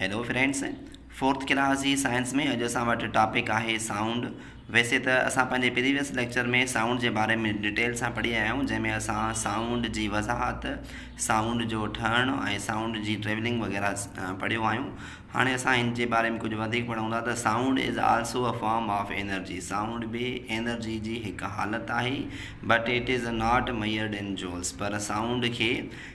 Hello friends fourth class جي science ۾ اڄ اسان وٽ ٽاپڪ آهي سائونڊ ويسي ته اسان پنهنجي پريويس ليڪچر ۾ سائونڊ جي باري ۾ ڊيٽيل سان پڙهي آيا آهيون جنهن ۾ اسان سائونڊ جي وضاحت سائونڊ جو ٺهڻ ۽ سائونڊ جي ٽريولنگ وغيره پڙهيو آهيون هاڻي اسان هن جي باري ۾ ڪجهه وڌيڪ پڙهون ٿا ته sound is also a form of energy sound به انرجي جي هڪ حالت آهي but it is not measured in joules پر سائونڊ کي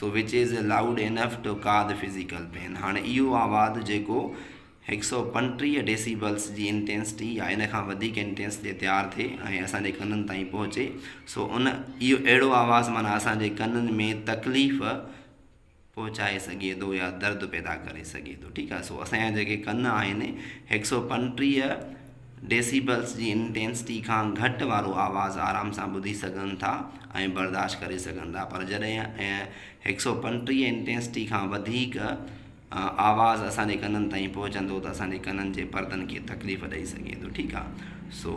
so which is a loud enough to ڪا دي فزيڪل پين هاڻي اهو آواز جيڪو هڪ سئو پنٽيهه ڊيسيبلس جي انٽينسٽي يا ان کان وڌيڪ انٽينس تي تيار ٿئي ۽ اسان جي ڪنن تائين پهچي سو ان اهو اهڙو آواز معنيٰ اسان جي ڪنن ۾ تڪليف پهچائي سگهي ٿو يا درد پيدا ڪري سگهي ٿو ٺيڪ آهي سو اسان جا جيڪي ڪن آهن هڪ سئو پنٽيهه ڊيسيبلز جي انٽينسٽي کان گهٽ وارو آواز آرام سان ٻڌي سگهن ٿا ۽ برداشت ڪري سگهن ٿا پر جڏهن هڪ سؤ پنٽيهه انٽينسٽي کان وڌيڪ آواز اسان جي ڪنن تائين پهچندو ته اسان جي ڪنن جي پردن کي تڪليف ڏئي سگهي ٿو ٺيڪ آهي سو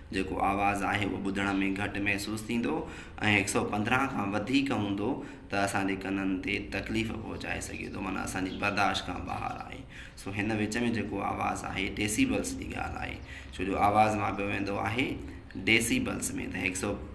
جيڪو آواز آهي اهو ٻڌڻ ۾ گهٽ محسوس ٿيندو ۽ هڪ سؤ پندرهن کان وڌيڪ هوندو ته اسان جي ڪنن تي تڪليف پهچائي سگهي ٿو معنيٰ اسان جي برداشت کان ٻاهر آهي سو هن وچ ۾ جيڪو آواز آهي ڊيسيبلس جي ڳالهه آهي ڇو جو آواز ماپيو ويندو آهي ڊيسيبلس ۾ ته هڪ سؤ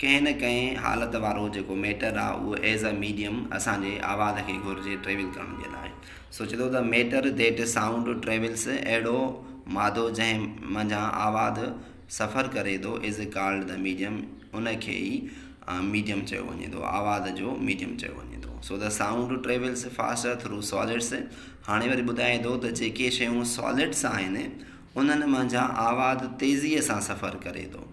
ڪنهن نه ڪنهن حالت وارو جيڪو ميٽر آ اهو ايز اي ميڊيم اسان جي آواز کي گهرجي ٽريول ڪرڻ جي لاء سوچي ٿو ته ميٽر ديٽ سائونڊ ٽريولس اهڙو مادو جنهن منجهان آواز سفر ڪري ٿو ايز اي ڪالڊ ته ميڊيم ان کي ئي ميڊيم چيو وڃي ٿو آواز جو ميڊيم چيو وڃي ٿو سو ته sound travels fast through solids هاڻي وري ٻڌائي ٿو ته جيڪي شيون سالڊس آهن انهن منجهان آواز تيزيء سان سفر ڪري ٿو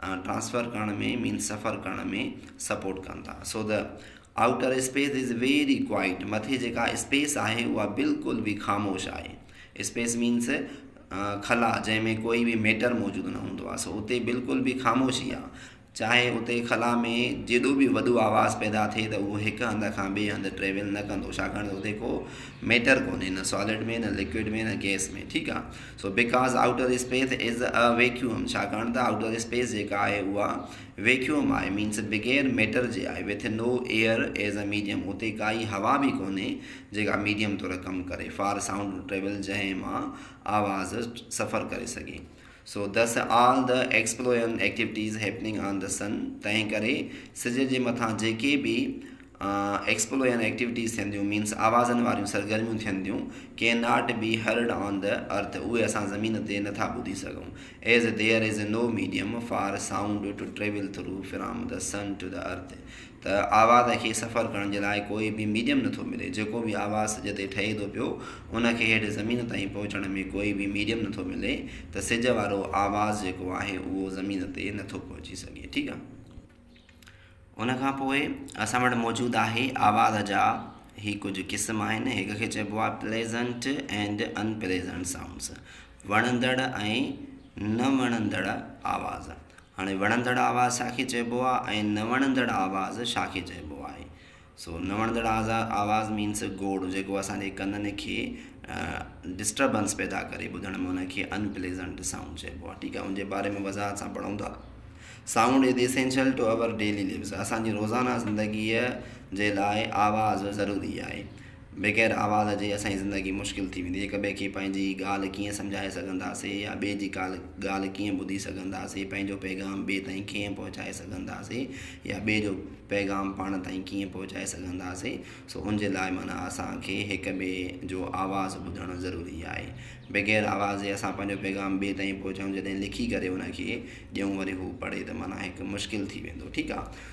ٽرانسفر ڪرڻ ۾ مينس سفر ڪرڻ ۾ سپورٽ ڪن ٿا so the outer space is very quiet مٿي جيڪا اسپيس آهي اها بلڪل به خاموش آهي اسپيس مينس خلا جنهن ۾ ڪوئي به ميٽر موجود نه هوندو آهي سو اتي بلڪل به خاموشي آهي چاهي اتي خلا ۾ جيڏو به وڏو آواز پيدا ٿئي ته اهو هڪ هنڌ کان ٻي هنڌ ٽريول نه ڪندو ڇاڪاڻ ته اتي ڪو ميٽر ڪونهي نه سالڊ ۾ نه لڪوئڊ ۾ نه گئس ۾ ٺيڪ آهي so because outer space is a vacuum ڇاڪاڻ ته آئوٽر اسپيس جيڪا آهي اها ويڪيوم آهي مينس بغير ميٽر جي آهي with no air as a medium اتي ڪائي هوا به ڪونهي جيڪا ميڊيم طور ڪم ڪري فار سائونڊ ٽريول جنهن مان آواز سفر ڪري سگهي سو دس آل د ايڪسپلورن ايڪٽيوٽيز هيپننگ آن د سن تنهن ڪري سج جي مٿان جيڪي به ايڪسپلو يعني ايڪٽيوٽيز ٿين ٿيون مينس آوازن واريون سرگرميون ٿين ٿيون can not be heard on the earth اهي اسان زمين تي نه ٿا ٻڌي سگهون as there is no medium for sound to travel through from the sun to the earth ته آواز کي سفر ڪرڻ جي لاء ڪوئي به ميڊيم نٿو ملي جيڪو به آواز سج تي ٺهي ٿو پيو ان کي هيٺ زمين تائين پهچڻ ۾ ڪوئي به ميڊيم نٿو ملي ته سج وارو آواز جيڪو آهي اهو زمين تي نٿو پهچي سگهي ٺيڪ آهي ان کان پوء اسان وٽ موجود آهي آواز جا هي ڪجهه قسم آهن هڪ کي چئبو آهي pleasant and unpleasant sounds وڻندڙ ۽ نه وڻندڙ آواز هاڻي وڻندڙ آواز ڇا کي چئبو آهي ۽ نه وڻندڙ آواز ڇا کي چئبو آهي سو نه وڻندڙ آواز مينس گوڙ جيڪو اسان جي ڪنن کي ڊسٽربنس پيدا ڪري ٻڌڻ ۾ ان کي ان پليزنٽ سائونڊ چئبو آهي ٺيڪ آهي ان جي باري ۾ وضاحت سان پڙهون ٿا sound is essential to our daily lives اسان جي روزانه زندگيء جي لاء آواز ضروري آهي بغير آواز جي اسان جي زندگي مشڪل ٿي ويندي. هڪ ٻئي کي پنهنجي ڳالهه ڪيئن سمجهائي سگهنداسين يا ٻئي جي ڳالهه ڪيئن ٻڌي سگهنداسين، پنهنجو پيغام ٻئي تائين ڪيئن پهچائي سگهنداسين يا ٻئي جو پيغام پاڻ تائين ڪيئن پهچائي سگهنداسين سو ان جي لاء معنيٰ اسان کي هڪ ٻئي جو آواز ٻڌڻ ضروري آهي. بغير آواز جي اسان پنهنجو پيغام ٻئي تائين پهچائون جڏهن لکي ڪري ان کي ڏيون وري هو پڙهي ته معنيٰ هڪ مشڪل ٿي ويندو ٺيڪ آهي.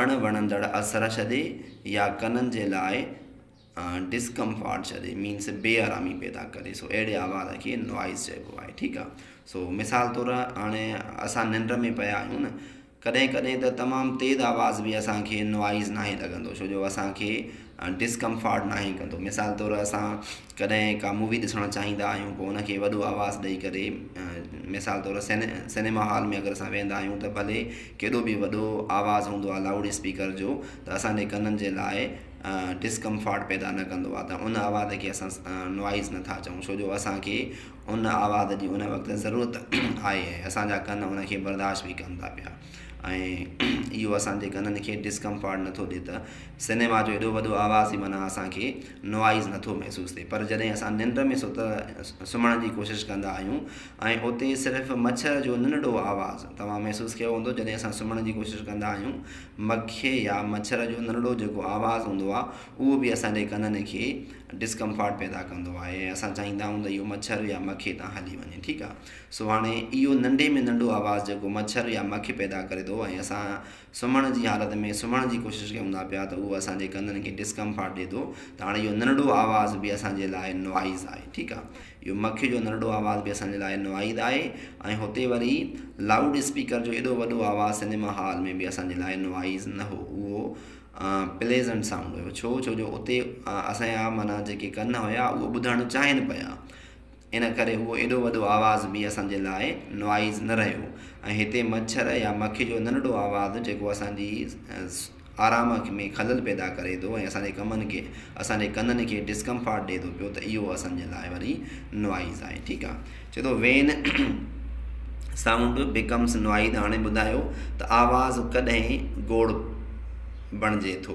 اڻ وڻندڙ اثر ڇڏي يا ڪنن جي لاء ڊسڪمفارٽ ڇڏي مينس بي آرامي پيدا ڪري سو اهڙي آواز کي نوائز چئبو آهي ٺيڪ آهي سو مثال طور هاڻي اسان ننڊ ۾ پيا آهيون نه ڪڏهن ڪڏهن ته تمام تيز آواز به اسانکي نوائز ناهي لڳندو ڇو جو اسانکي ڊسڪمفارٽ ناهي ڪندو مثال طور اسان ڪڏهن ڪا مووي ڏسڻ چاهيندا آهيون پوء ان کي وڏو آواز ڏئي ڪري مثال طور سيني سينيما هال ۾ اگر اسان ويندا آهيون ته ڀلي ڪيڏو به وڏو آواز هوندو آهي لائوڊ اسپيڪر جو ته اسانجي ڪنن جي لاء ڊسڪمفارٽ پيدا نه ڪندو آهي ته ان آواز کي اسان نوائز نٿا چئون ڇو جو اسانکي ان آواز جي ان وقت ضرورت آهي ۽ اسانجا ڪن ان کي برداشت به ڪن ٿا پيا ۽ اهو اسانجي ڪنن کي ڊسڪمفارٽ نٿو ڏئي ته سينيما جو ايڏو وڏو آواز ئي معنيٰ اسان کي Noise نٿو محسوس ٿئي پر جڏهن اسان ننڊ ۾ سوت سمهڻ جي ڪوشش ڪندا آهيون ۽ اتي صرف مڇر جو ننڍڙو آواز توهان محسوس ڪيو هوندو جڏهن اسان سمهڻ جي ڪوشش ڪندا آهيون مکي يا مڇر جو ننڍڙو جيڪو آواز هوندو آهي اهو به اسان جي ڪنن کي Discomfort پيدا ڪندو آهي ۽ اسان چاهيندا آهيون ته اهو مڇر يا مکي تان هلي وڃي ٺيڪ آهي سو هاڻي اهو ننڍي ۾ ننڍو آواز جيڪو مڇر يا مکي پيدا ڪري ٿو ۽ اسان سمهڻ جي حالت ۾ سمهڻ جي ڪوشش ڪيون ٿا پيا ته اهو اسان جي ڪنن کي ڊسڪمفارٽ ڏي ٿو ته هاڻي اهو ننڍڙو آواز به اسان جي لاء نوائز آهي ٺيڪ آهي اهو مکي جو ننڍڙو آواز به اسان جي لاء نوائد آهي ۽ هتي وري لائوڊ اسپيڪر جو ايڏو وڏو آواز سنيما هال ۾ به اسان جي لاء نوائز نه هو اهو پليزنٽ سائونڊ هيو ڇو ڇو جو اتي اسان جا معنيٰ جيڪي ڪن هيا اهو ٻڌڻ چاهين پيا ان ڪري اهو ايڏو وڏو آواز به اسان جي لاء Noise نه رهيو ۽ هتي مڇر يا مکي جو ننڍڙو آواز جيڪو اسان جي آرام ۾ خلل پيدا ڪري ٿو ۽ اسان جي ڪمن کي اسان جي ڪنن کي Discomfort ڏئي ٿو پيو ته اهو اسان جي لاء وري Noise آهي ٺيڪ آهي چئي ٿو When Sound Becomes Noise هاڻي ٻڌايو ته آواز ڪڏهن گوڙ بڻجي ٿو.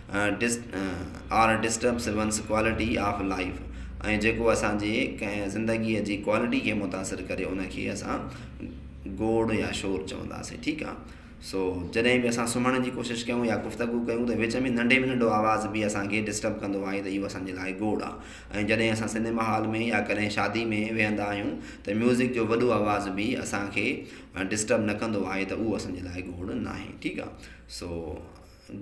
ڊس آر ڊسٽرب سروانس ڪوالٽي آف لائف ۽ جيڪو اسان جي ڪنهن زندگيء جي ڪوالٽي کي متاثر ڪري ان کي اسان گوڙ يا شور چونداسين ٺيڪ آهي سو جڏهن به اسان سمهڻ جي ڪوشش ڪيون يا گفتگو ڪيون ته وچ ۾ ننڍي ۾ ننڍو آواز به اسان کي ڊسٽرب ڪندو آهي ته اهو اسان جي لاء گوڙ آهي ۽ جڏهن اسان سينيما هال ۾ يا ڪڏهن شادي ۾ ويهندا آهيون ته ميوزڪ جو وڏو آواز به اسان کي ڊسٽرب نه ڪندو آهي ته اهو اسان جي لاء گوڙ ناهي ٺيڪ آهي سو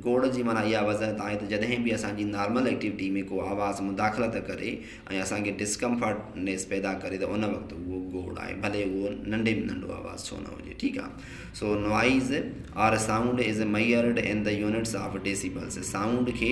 گوڙ جي معنيٰ اها وضاحت آهي ته جڏهن به اسان جي نارمل ايڪٽيوٽي ۾ ڪو آواز مداخلت ڪري ۽ اسان کي ڊسڪمفرٽ نيس پيدا ڪري ته ان وقت اهو گوڙ آهي ڀلي اهو ننڍي ۾ ننڍو آواز ڇو نه هجي ٺيڪ آهي سو noise are sound is measured in the units of decibels sound کي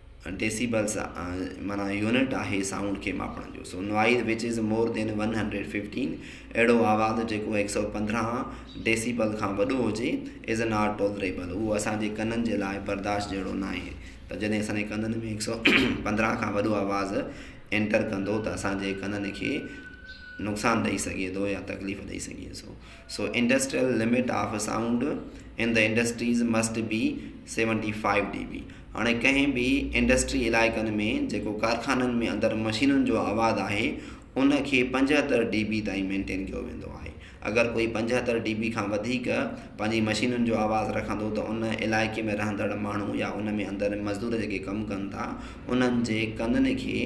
ڊيسيبلز معنيٰ يونٽ آهي سائونڊ کي ماپڻ جو so noise which is more than one hundred fifteen اهڙو آواز جيڪو هڪ سئو پندرهن ڊيسيبل کان وڏو هجي از ناٽ ٽولريبل اهو اسان جي ڪنن جي لاء برداشت جهڙو ناهي ته جڏهن اسان جي ڪنن ۾ هڪ سئو پندرهن کان وڏو آواز انٽر ڪندو ته اسان جي ڪنن کي نقصان ڏئي سگهي ٿو يا تڪليف ڏئي سگهي ٿو so industrial limit of sound in the industries must be seventy five D B هاڻي ڪنهن به انڊسٽري علائقن ۾ جيڪو ڪارخانن ۾ اندر مشينن جو آواز آهي ان کي پنجهتر ڊي بي تائين مينٽين ڪيو ويندو آهي اگر ڪوئي پنجهتر ڊي بي کان وڌيڪ پنهنجي مشينن جو آواز رکندو ته ان علائقي ۾ رهندڙ ماڻهو يا ان ۾ اندر مزدور جيڪي ڪم ڪن ٿا انهن جي ڪنن کي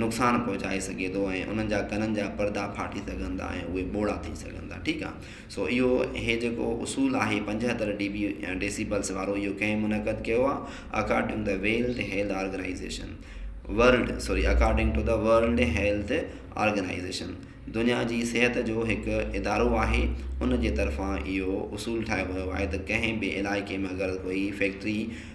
نقصان پهچائي سگهي ٿو ۽ انهن جا ڪنن جا پردا ڦاٽي سگهن ٿا ۽ اهي ٻوڙا ٿي سگهن ٿا ٺيڪ آ سو اهو هي جيڪو اصول آهي پنجهتر ڊي بي ڊيسيبلس وارو اهو ڪنهن منعقد ڪيو آ اڪارڊنگ ته world health organization world sorry according to the world health organization دنيا جي صحت جو هڪ ادارو آهي ان جي طرفان اهو اصول ٺاهيو ويو آهي ته ڪنهن به علائقي ۾ اگر ڪوئي فيڪٽري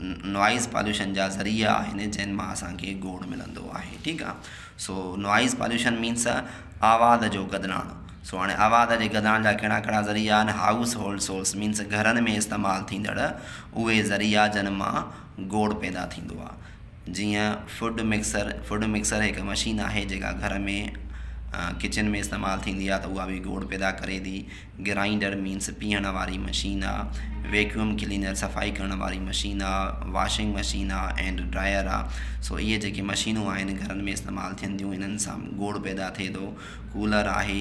نوائيز پاليوشن جا ذريعا آهن جنهن مان اسان کي گوڙ ملندو آهي ٺيڪ آ سو نوائيز پاليوشن مينس آواز جو گدلاڻ سو هاڻي آواز جي گدلاڻ جا ڪهڙا ڪهڙا ذريعا آهن هائوس هولڊ سورس مينس گهرن ۾ استعمال ٿيندڙ اهي ذريعا جن مان گوڙ پيدا ٿيندو آ جيئن فوڊ مڪسر، فوڊ مڪسر هڪ مشين آهي جيڪا گهر ۾ ڪچن ۾ استعمال ٿيندي آهي ته اها به گوڙ پيدا ڪري ٿي، گرائنڊر مينس پيهڻ واري مشين آ، ويڪيوم ڪلينر صفائي ڪرڻ واري مشين آ، واشنگ مشين آ ۽ ڊرائر آ سو اهي جيڪي مشينون آهن گهرن ۾ استعمال ٿين ٿيون انهن سان گوڙ پيدا ٿئي ٿو. ڪولر آهي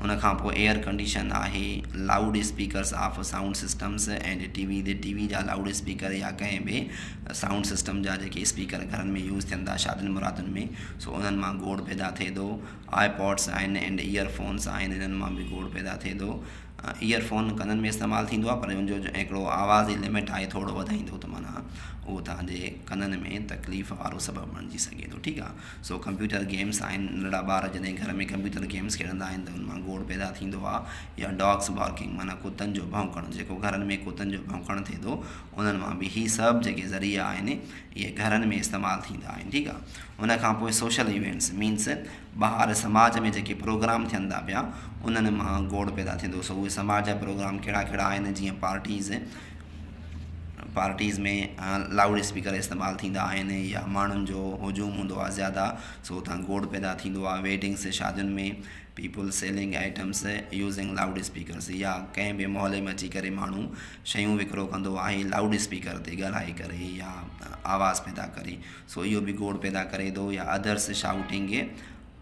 ان کان پوء ايئر ڪنڊيشن آهي loud speakers of sound systems and T V تي ٽي وي جا لائوڊ اسپيڪر يا ڪنهن ٻي سائونڊ سسٽم جا جيڪي اسپيڪر گهرن ۾ يوز ٿين ٿا شادين مرادن ۾ سو انهن مان گوڙ پيدا ٿئي ٿو آء پوڊس آهن اينڊ ايئر فونس آهن انهن مان به گوڙ پيدا ٿئي ٿو ايئر فون ڪنن ۾ استعمال ٿيندو آهي پر ان جو هڪڙو آواز جي لمٽ آهي ٿورڙو وڌائيندو ته معنيٰ اهو تهنجي ڪنن ۾ تڪليف وارو سبب بڻجي سگهي ٿو ٺيڪ آهي سو ڪمپيوٽر گيمز آهن ننڍڙا ٻار جڏهن گهر ۾ ڪمپيوٽر گيمز کيڏندا آهن ته ان مان گوڙ پيدا ٿيندو آهي يا ڊاگز بارڪنگ معنيٰ ڪتن جو ڀونڪڻ جيڪو گهرن ۾ ڪتن جو ڀونڪڻ ٿئي ٿو انهن مان به هي سڀ جيڪي ذريعا آهن اهي گهرن ۾ استعمال ٿيندا آهن ٺيڪ آهي ان کان پوء سوشل ايونٽس مينس ٻاهر سماج ۾ جيڪي پروگرام ٿين ٿا پيا انهن مان گوڙ پيدا ٿيندو سو اهي سماج جا پروگرام ڪهڙا ڪهڙا آهن جيئن پارٽيز پارٽيز ۾ لائوڊ اسپيڪر استعمال ٿيندا آهن يا ماڻهن جو هجوم هوندو آهي زياده سو اتان گوڙ پيدا ٿيندو آهي ويڊنگس ۽ شادين ۾ people selling items using loudspeakers يا ڪنهن به محلي ۾ اچي ڪري ماڻهو شيون وڪرو ڪندو آهي لائوڊ اسپيڪر تي ڳالهائي ڪري يا آواز پيدا ڪري سو اهو به گوڙ پيدا ڪري ٿو يا ادرس شائوٽنگ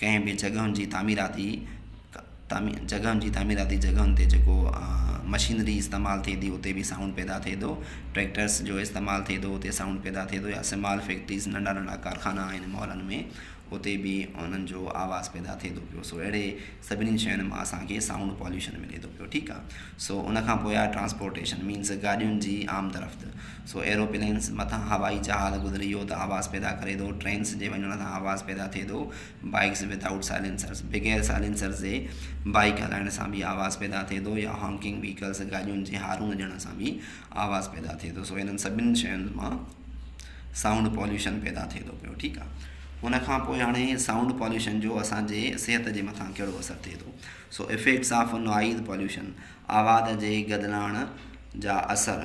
ڪنهن به جڳهن جي تعميراتي جڳهن جي تعميراتي جڳهن تي جيڪو مشينري استعمال ٿئي ٿي اتي به سائونڊ پيدا ٿئي ٿو ٽريڪٽرس جو استعمال ٿئي ٿو اتي سائونڊ پيدا ٿئي ٿو يا سمال فيڪٽريز ننڍا ننڍا ڪارخانا آهن مالن ۾ اتي به انهن جو آواز پيدا ٿئي ٿو پيو سو اهڙي سڀني شين مان اسانکي سائونڊ پاليوشن ملي ٿو پيو ٺيڪ آ سو ان کان پوء آ ٽرانسپورٽيشن مينس گاڏين جي عام طرف سو ايروپلينس مٿان هوائي جهاز گذري ويو ته آواز پيدا ڪري ٿو، ٽرينس جي وڃڻ سان آواز پيدا ٿئي ٿو، بائيڪس ود آئوٽ سائلينسرز، بغير سائلينسرز جي، بائيڪ هلائڻ سان به آواز پيدا ٿئي ٿو يا هانڪنگ ويهڪلز، گاڏين جي هارون هجڻ سان به آواز پيدا ٿئي ٿو، سو انهن سڀني شين مان سائونڊ پوليوشن پيدا ٿئي ٿو پيو ٺيڪ آ. ان کان پوء هاڻي سائونڊ پوليوشن جو اسان جي صحت جي مٿان ڪهڙو اثر ٿئي ٿو so effects of noise pollution آواز جي گدلاڻ جا اثر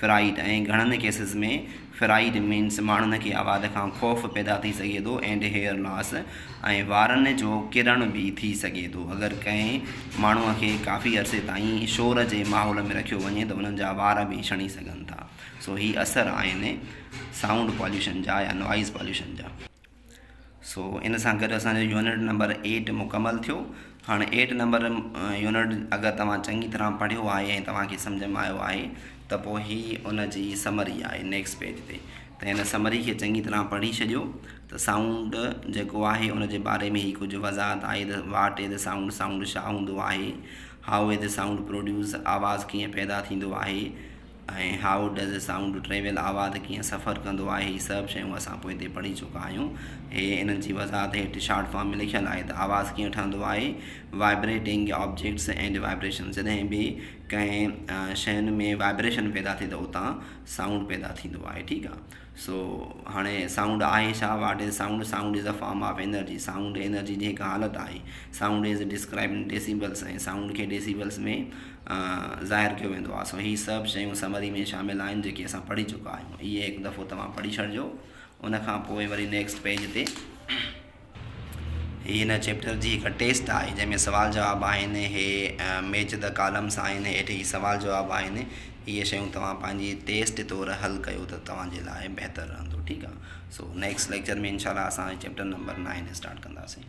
فرائيڊ ۽ گهڻن ڪيسز ۾ فرائيڊ مينس ماڻهن کي آواز کان خوف پيدا ٿي سگهي ٿو اينڊ هيئر لاس ۽ وارن جو ڪرڻ به ٿي سگهي ٿو اگر ڪنهن ماڻهو کي ڪافي عرصي تائين شور جي ماحول ۾ رکيو وڃي ته انهن جا وار به ڇڻي سگهن ٿا سو هي اثر آهن سائونڊ پاليوشن جا يا نوائيز پاليوشن جا. سو ان سان گڏ اسان جو يونٽ نمبر ايٽ مڪمل ٿيو هاڻي ايٽ نمبر يونٽ اگر توهان چڱي طرح پڙهيو آهي ۽ توهان کي سمجهه ۾ آيو آهي ته پوء هي ان جي سمري آهي نيڪسٽ پيج تي ته هن سمري کي چڱي طرح پڙهي ڇڏيو ته سائونڊ جيڪو آهي ان جي باري ۾ هي ڪجهه وضاحت آهي ته what a the sound sound ڇا هوندو آهي how a the sound produce آواز ڪيئن پيدا ٿيندو آهي ۽ هائو ڊز سائونڊ ٽريول آواز ڪيئن سفر ڪندو آهي هي سڀ شيون اسان پوئتي پڙهي چڪا آهيون هي انهن جي وضاحت هيٺ شارٽ فارم ۾ لکيل آهي ته آواز ڪيئن ٺهندو آهي وائبريٽنگ آبجيڪٽس اينڊ وائبريشن جڏهن به ڪنهن شين ۾ وائبريشن پيدا ٿئي ته اتان سائونڊ پيدا ٿيندو آهي ٺيڪ آهي سو هاڻي سائونڊ آهي ڇا؟ What is sound? Sound is a form of energy. Sound energy جي هڪ حالت آهي. Sound is described in decibels ۽ sound کي ڊيسيبلز ۾ ظاهر ڪيو ويندو آهي. سو هي سڀ شيون سمري ۾ شامل آهن جيڪي اسان پڙهي چڪا آهيون. اهي هڪ دفعو توهان پڙهي ڇڏجو ان کان پوء وري نيڪسٽ پيج تي هي هن چيپٽر جي هڪ ٽيسٽ آهي جنهن ۾ سوال جواب آهن هي ميچ دي ڪالمس آهن هيٺ هي سوال جواب آهن اهي شيون توهان پنهنجي ٽيسٽ طور حل ڪيو ته توهان جي لاء بهتر رهندو ٺيڪ آهي سو نيڪسٽ ليڪچر ۾ انشاء الله اسان چيپٽر نمبر نائن اسٽارٽ ڪنداسين